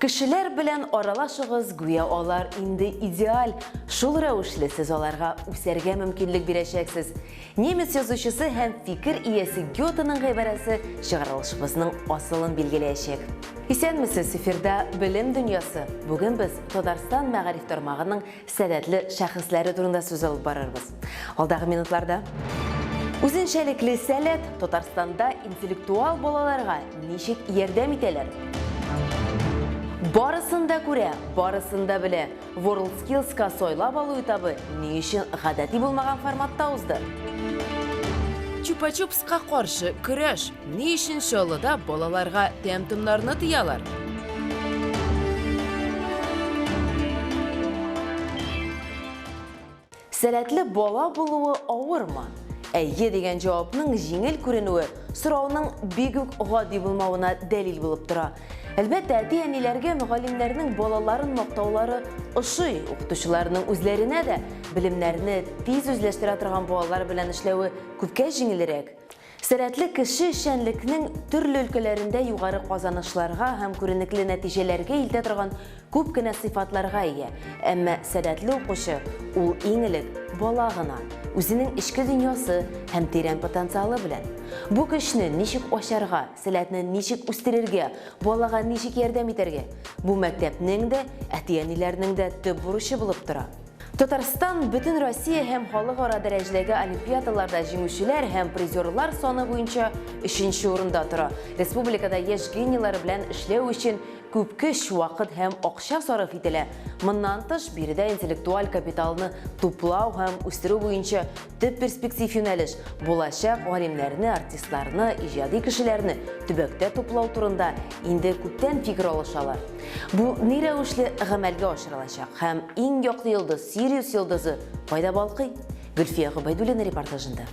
Кешеләр белән аралашыгыз, гүя алар инде идеаль. Шул рәвешле сез аларга үсәргә мөмкинлек бирәчәксез. Немец язучысы һәм фикер иясе Гётеның гыйбарәсе чыгарылышыбызның асылын билгеләячәк. Исәнмесез, эфирда Белем дөньясы. Бүген без Татарстан мәгариф тармагының сәләтле шәхесләре турында сүз алып барырбыз алдагы минутларда. Үзенчәлекле сәләт Татарстанда интеллектуал балаларга ничек ярдәм итәләр? Барысын да күрә, барысын да белә. WorldSkills-ка сайлап алу этабы ни өчен гадәти булмаган форматта узды? Чупа-чуп Ка каршы көрәш. Ни өчен Чаллыда балаларга тәм-томнарны тыялар? Сәләтле бала булуы авырмы? Әйе дигән җавапның җиңел күренүе сорауның бик үк гади булмавына дәлил булып тора. Әлбәттә, әти-әниләргә мөгаллимнәрнең балаларын мактаулары ошый, укытучыларның үзләренә дә белемнәрне тиз үзләштерә торган балалар белән эшләве Күпкә җиңелрәк. Сәләтле кеше эшчәнлекнең төрле өлкәләрендә югары казанышларга һәм күренекле нәтиҗәләргә илтә торган күп кенә сыйфатларга ия. Әмма сәләтле укучы, ул иң элек бала гына, үзенең эчке дөньясы һәм тирән потенциалы белән. Бу көчне ничек ачарга, сәләтне ничек үстерергә, балага ничек ярдәм итәргә, бу мәктәпнең дә, әти-әниләрнең дә төп бурычы булып тора. Татарстан Бөтенроссия һәм халыкара дәрәҗәдәге олимпиадаларда җиңүчеләр һәм призерлар саны буенча өченче урында тора. Республикада яшь гениелар белән эшләү өчен күп көч, вакыт һәм акча сарыф ителә. Моннан тыш, биредә интеллектуаль капиталны туплау һәм үстерү буенча Төп перспектив юнәлеш булачак галимнәрне, артистларны, иҗади кешеләрне төбәктә туплау турында инде күптән фикер алышалар. Бу ни рәвешле гамәлгә ашырылачак һәм иң яклы йолдыз, Сириус йолдызы кайда балкый? Гөлфия Гобәйдуллина репортажында.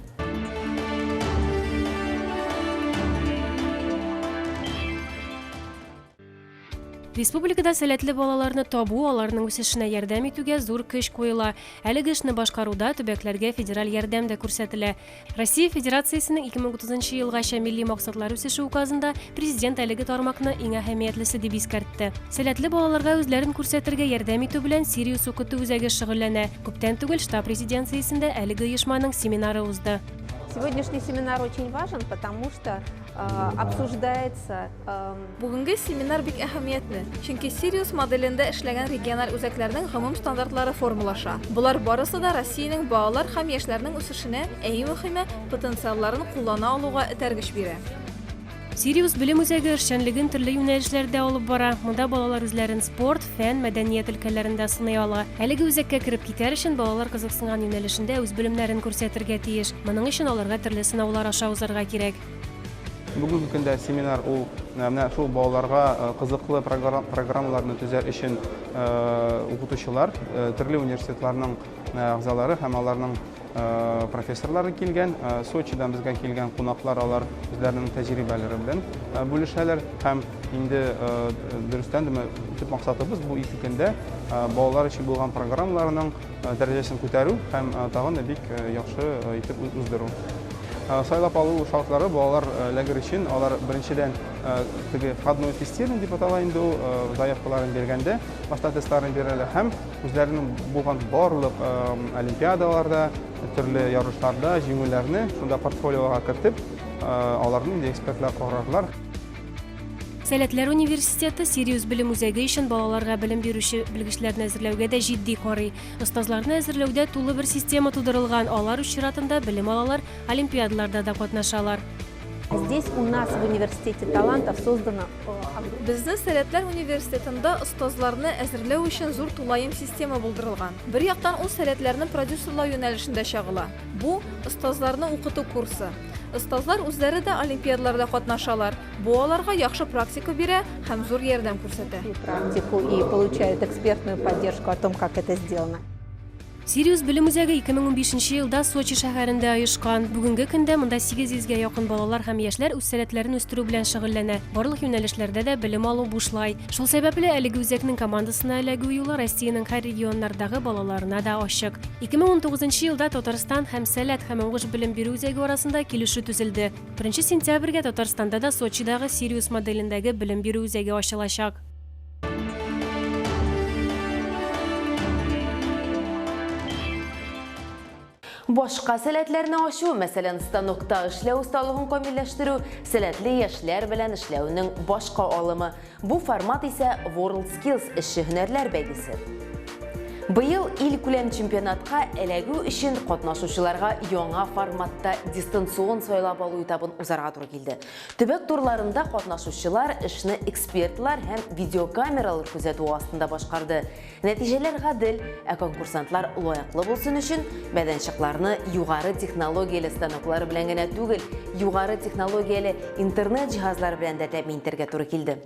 Республикада сәләтле балаларны табу, аларның үсешенә ярдәм итүгә зур көч куела. Әлеге эшне башкаруда төбәкләргә федераль ярдәм дә күрсәтелә. Россия Федерациясенең 2030 елгача милли максатлар үсеше указында президент әлеге тармакны иң әһәмиятлесе дип искәртте. Сәләтле балаларга үзләрен күрсәтергә ярдәм итү белән Сириус укыту үзәге шөгыльләнә. Күптән түгел штаб резиденциясендә әлеге оешманың семинары узды. Сегодняшний семинар очень важен, потому что обсуждается. Бүгенге семинар бик әһәмиятле, чөнки Сириус моделендә эшләгән региональ үзәкләрнең гомум стандартлары формулаша. Болар барысы да Россиянең балалар һәм яшьләрнең үсешенә, ә иң мөхиме, потенциалларын куллана алуга этәргеч бирә. Сириус белем үзәге эшчәнлеген төрле юнәлешләрдә алып бара. Монда балалар үзләрен спорт, фән, мәдәният өлкәләрендә сыный ала. Әлеге үзәккә кереп китәр өчен балалар кызыксынган юнәлешендә үз белемнәрен күрсәтергә тиеш. Моның өчен аларга төрле сынаулар аша узарга кирәк. Бүгенге көндә семинар ул менә шул балаларга кызыклы программаларны төзәр өчен укытучылар, төрле университетларның әгъзалары һәм аларның профессорлары килгән, Сочидан безгә килгән кунаклар алар үзләренең тәҗрибәләре белән бүлешәләр һәм инде дөрестән дә төп максатыбыз бу ике көндә балалар өчен булган программаларның дәрәҗәсен күтәрү һәм тагын да бик яхшы итеп уздыру. Сайлап алу шартлары балалар лагерь өчен алар беренчедән теге входное тестирование дип атала инде ул заявкаларын биргәндә башта тестларын бирәләр һәм Үзләренең булган барлык олимпиадаларда, төрле ярышларда җиңүләрне шунда портфолиога кертеп, аларны инде экспертлар карарлар. Сәләтләр университеты Сириус белем үзәге өчен балаларга белем бирүче белгечләрне әзерләүгә дә җитди карый. Остазларны әзерләүдә тулы бер система тудырылган, алар үз чиратында белем алалар, олимпиадаларда да катнашалар. Здесь у нас в университете талантов создано... Безнең Сәләтләр университетында остазларны әзерләү өчен зур тулаем система булдырылган. Бер яктан ул сәләтләрне продюсерлау юнәлешендә чагыла. Бу, остазларны укыту курсы. Остазлар үзләре дә олимпиадаларда катнашалар. Бу аларга яхшы практика бирә һәм зур ярдәм күрсәтә. Практику и получают экспертную поддержку о том, как это сделано. Сириус белем үзәге 2015 нче елда Сочи шәһәрендә оешкан. Бүгенге көндә монда 800 гә якын балалар һәм яшьләр үз сәләтләрен үстерү белән шөгыльләнә. Барлык юнәлешләрдә дә белем алу бушлай. Шул сәбәпле, әлеге үзәкнең командасына эләгү юлы Россиянең һәр регионнардагы балаларына да ачык. 2019 нчы елда Татарстан һәм Сәләт һәм уңыш белем бирү үзәге арасында килешү төзелде. Беренче сентябрьгә Татарстанда да Сочидагы Сириус моделендәге белем бирү үзәге ачылачак. Башка сәләтләрне ачу, мәсәлән, станокта эшләү осталыгын камилләштерү, сәләтле яшьләр белән эшләүнең башка алымы. Бу формат исә World Skills эшче һөнәрләр бәйгесе. Быел ил күләм чемпионатка эләгү өчен катнашучыларга яңа форматта дистанцион сайлап алу этабын узарга туры килде. Төбәк турларында катнашучылар эшне экспертлар һәм видеокамералар күзәтүе астында башкарды. Нәтиҗәләр гадел, ә конкурсантлар лаеклы булсын өчен, мәйданчыкларны югары технологияле станоклар белән генә түгел, югары технологияле интернет җиһазлары белән дә тәэмин итәргә туры килде.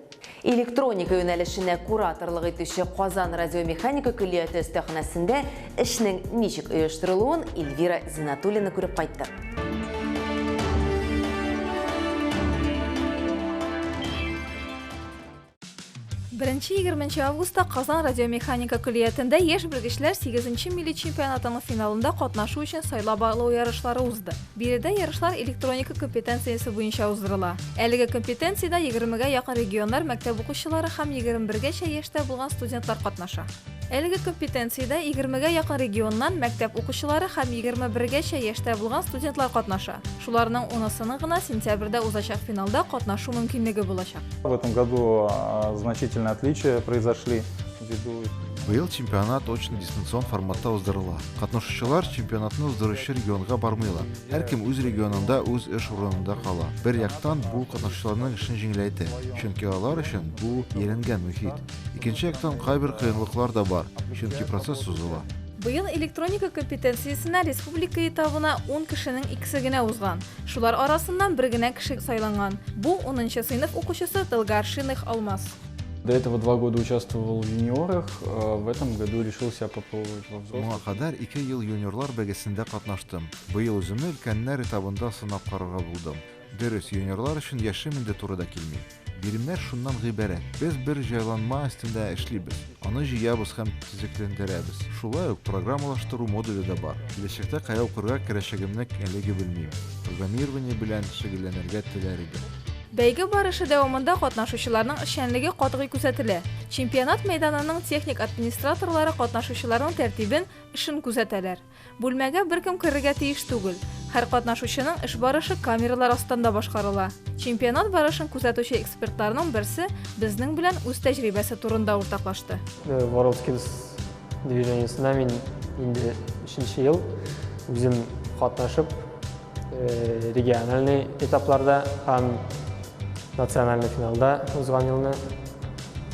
Электроника юнәлешенә кураторлык итүче Казан радиомеханика көллияте өстәханәсендә эшнең ничек оештырылуын Эльвира Зинатуллина күреп кайтты. Беренче 20 августта Казан радиомеханика көллиятендә яшь белгечләр 8 милли чемпионатының финалында катнашу өчен сайлап алу ярышлары узды. Биредә ярышлар электроника компетенциясе буенча уздырыла. Әлеге компетенциядә егермегә якын регионнар мәктәп укучылары һәм егерме бергәчә яшьтә булган студентлар катнаша. Әлеге компетенциядә егермегә якын регионнан мәктәп укучылары һәм егерме бергәчә яшьтә булган студентлар катнаша. Шуларның унысының гына сентябрьдә узачак финалда катнашу мөмкинлеге булачак. В этом году значительные отличия произошли. Быел чемпионат очно дистанцион форматта уздырыла. Катнашучылар чемпионатны уздыручы регионга бармыйлар. Һәркем үз регионында үз эш урынында кала. Бер яктан бу катнашучыларның эшен җиңеләйтә, чөнки алар өчен бу ияләнгән мөхит. Икенче яктан кайбер кыенлыклар да бар, чөнки процесс сузыла. Быел электроника компетенциясенә республика этабына 10 кешенең икесе генә узган. Шулар арасыннан бер генә кеше сайланган. Бу, унынчы сыйныф укучысы Долгоаршинных Алмаз. До этого два года участвовал в юниорах, а в этом году решил себя попробовать во взрослых. Моңа кадәр ике ел юниорлар бәгесендә катнаштым. Быел үземне өлкәннәр этабында сынап карарга булдым. Дөрес, юниорлар өчен яшем инде туры да килми. Биремнәр шуннан гыйбарәт. Без бер җайланма өстендә эшлибез. Аны җыябыз һәм төзекләндерәбез. Шулай ук программалаштыру модуле дә бар. Киләчәктә кая укырга керәчәгемне әлеге белмим. Программирование белән шөгыльләнергә теләр идем. Бәйге барышы дәвамында катнашучыларның эшчәнлеге катгый күзәтелә. Чемпионат мәйданының техник администраторлары катнашучыларның тәртибен, эшен күзәтәләр. Бүлмәгә беркем керергә тиеш түгел. Һәр катнашучының эш барышы камералар астында башкарыла. Чемпионат барышын күзәтүче экспертларның берсе безнең белән үз тәҗрибәсе турында уртаклашты. WorldSkills движениесенә мин инде өченче ел үзем катнашып, Э, региональный этапларда һәм национальный финалда узган елны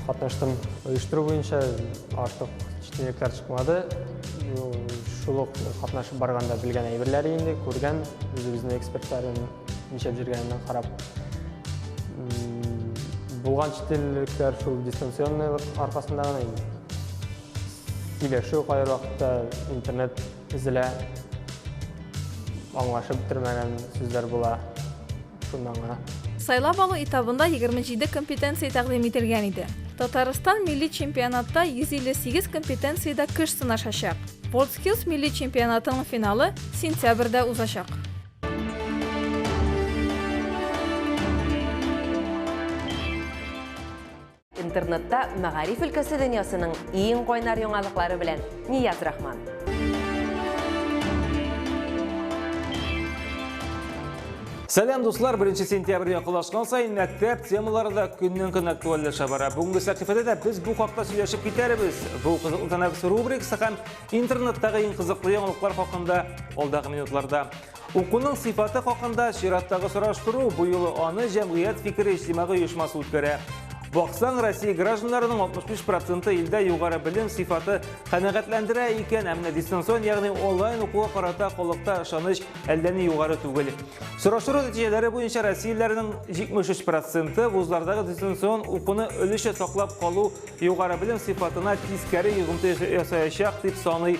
катнаштым. Оештыру буенча артык читенлекләр чыкмады. Шул ук катнашып барганда белгән әйберләр инде, күргән, үзебезнең экспертларын ничәп җиргәнен карап. Булган читенлекләр шул дистанционный аркасында гына инде. Сөйләшү кайбер вакытта интернет Эзелә. Аңлашып бетермәгән сүзләр була. Шуннан гына. Сайлап алу этабында 27 компетенция тәкъдим ителгән иде. Татарстан милли чемпионатта 158 компетенциядә көч сынашачак. WorldSkills милли чемпионатының финалы сентябрьдә узачак. Интернетта мәгариф өлкәсе дөньясының иң кайнар яңалыклары белән Нияз Рахман. Сәлам дуслар, 1 сентябрь якынлашкан саен мәктәп темалары да көннән-көн актуальләшә бара. Бүгенге сәхифәдә дә без бу хакта сөйләшеп китәрбез. Бу кызыклы тәнәфес рубрикасы һәм интернеттагы иң кызыклы яңалыклар хакында алдагы минутларда. Укуның сыйфаты хакында чираттагы сораштыру бу юлы аны җәмгыять фикере иҗтимагый оешмасы үткәрә. Баксаң, Россия гражданнарының 65 проценты илдә югары белем сыйфаты канәгатьләндерә икән, ә менә дистанцион, ягъни онлайн укуга карата халыкта ышаныч әллә ни югары түгел. Сораштыру нәтиҗәләре буенча россияләрнең 73 проценты вузлардагы дистанцион укуны өлешчә саклап калу югары белем сыйфатына тискәре йогынты ясаячак дип саный,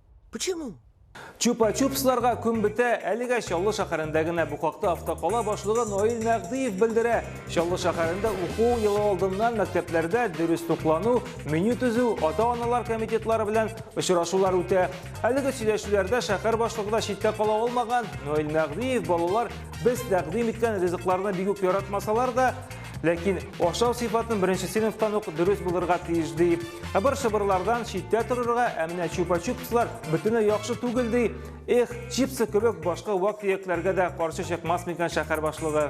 Почему? Чупа-чупсларга күн бетә, әлегә Чаллы шәһәрендә генә бу хакта автокала башлыгы Наил Мәгъдиев белдерә. Чаллы шәһәрендә уку елы алдыннан мәктәпләрдә дөрес туклану, меню төзү, ата-аналар комитетлары белән очрашулар үтә. Әлеге сөйләшүләрдә шәһәр башлыгы да читтә кала алмаган. Наил Мәгъдиев балалар без тәкъдим иткән ризыкларны бик үк яратмасалар да, Ләкин ашау сыйфатын беренче сыйныфтан ук дөрес булырга тиеш ди. Ыбыр-шыбырлардан читтә торырга, ә менә чупа-чупслар бөтенләй яхшы түгел ди. Эх, чипсы кебек башка вак төякләргә дә каршы чыкмас микән шәһәр башлыгы?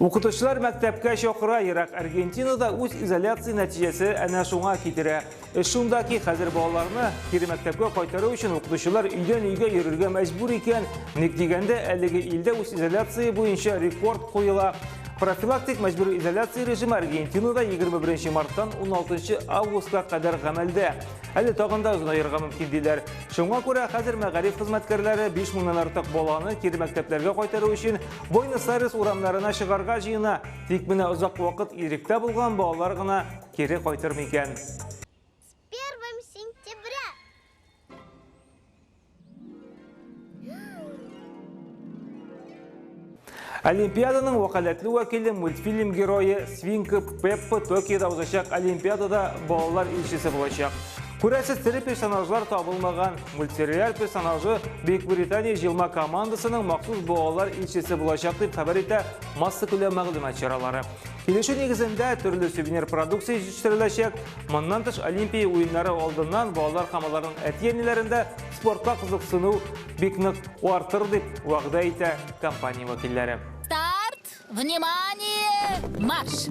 Укытучылар мәктәпкә чакыра ерак Аргентинада үз изоляция нәтиҗәсе әнә шуңа китерә. Эш шунда ки, хәзер балаларны кире мәктәпкә кайтару өчен укытучылар өйдән өйгә йөрергә мәҗбүр икән. Ник дигәндә, әлеге илдә үз изоляция буенча рекорд куела. Профилактик мәҗбүр изоляция режимы Аргентинада 21 марттан 16 августка кадәр гамәлдә. Әле тагын да озынаерга мөмкин диләр. Шуңа күрә хәзер мәгариф хезмәткәрләре 5 меңнән артык баланы кире мәктәпләргә кайтару өчен Буэнос-Айрес урамнарына чыгарга җыена, тик менә озак вакыт иректә булган балалар гына кире кайтыр микән? С 1 сентября! Олимпиаданың вәкаләтле вәкиле мультфильм герое Свинка Пеппа Токиода узачак Олимпиадада балалар илчесе булачак. Күрәсез, тере персонажлар табылмаган. Мультсериал персонажы Бөекбритания җыелма командасының махсус балалар илчесе булачак дип хәбәр итә массакүләм мәгълүмат чаралары. Килешү нигезендә төрле сувенир продукция җитештереләчәк. Моннан тыш Олимпия уеннары алдыннан балалар һәм аларның әти-әниләрендә спортка кызыксыну бик нык артыр дип вәгъдә итә компания вәкилләре. Старт! Внимание! Марш!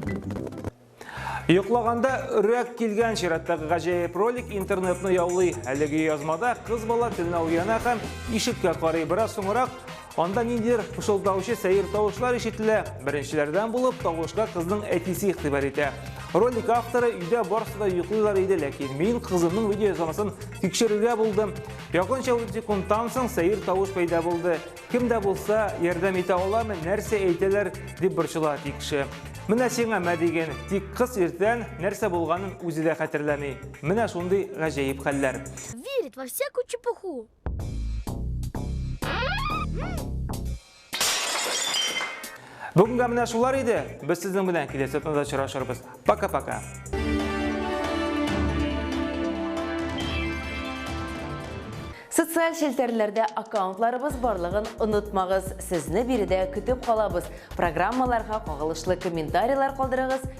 Йоклаганда өрәк килгән чираттагы гаҗәеп ролик интернетны яулый. Әлеге язмада кыз бала төнлә уяна һәм ишеккә карый. Бераз соңрак анда ниндидер пышылдаучы сәер тавышлар ишетелә. Беренчеләрдән булып тавышка кызның әтисе игътибар итә. Ролик авторы өйдә барысы да йоклыйлар иде, ләкин мин кызымның видеоязмасын тикшерергә булдым. Якынча 30 секундтан соң сәер тавыш пәйда булды. Кем дә булса ярдәм итә аламы, нәрсә әйтәләр, дип борчыла Тикше. Менә сиңа мә диген, тик кыз иртән нәрсә булганын үзе дә хәтерләми. Менә шундый гаҗәеп хәлләр. Верит во всякую чепуху. Бүгенгә менә шулар иде. Без сезнең белән киләсе атнада очрашырбыз. Пока-пока. Социаль челтәрләрдә аккаунтларыбыз барлыгын онытмагыз. Сезне биредә көтеп калабыз. Программаларга кагылышлы комментарийлар калдырыгыз,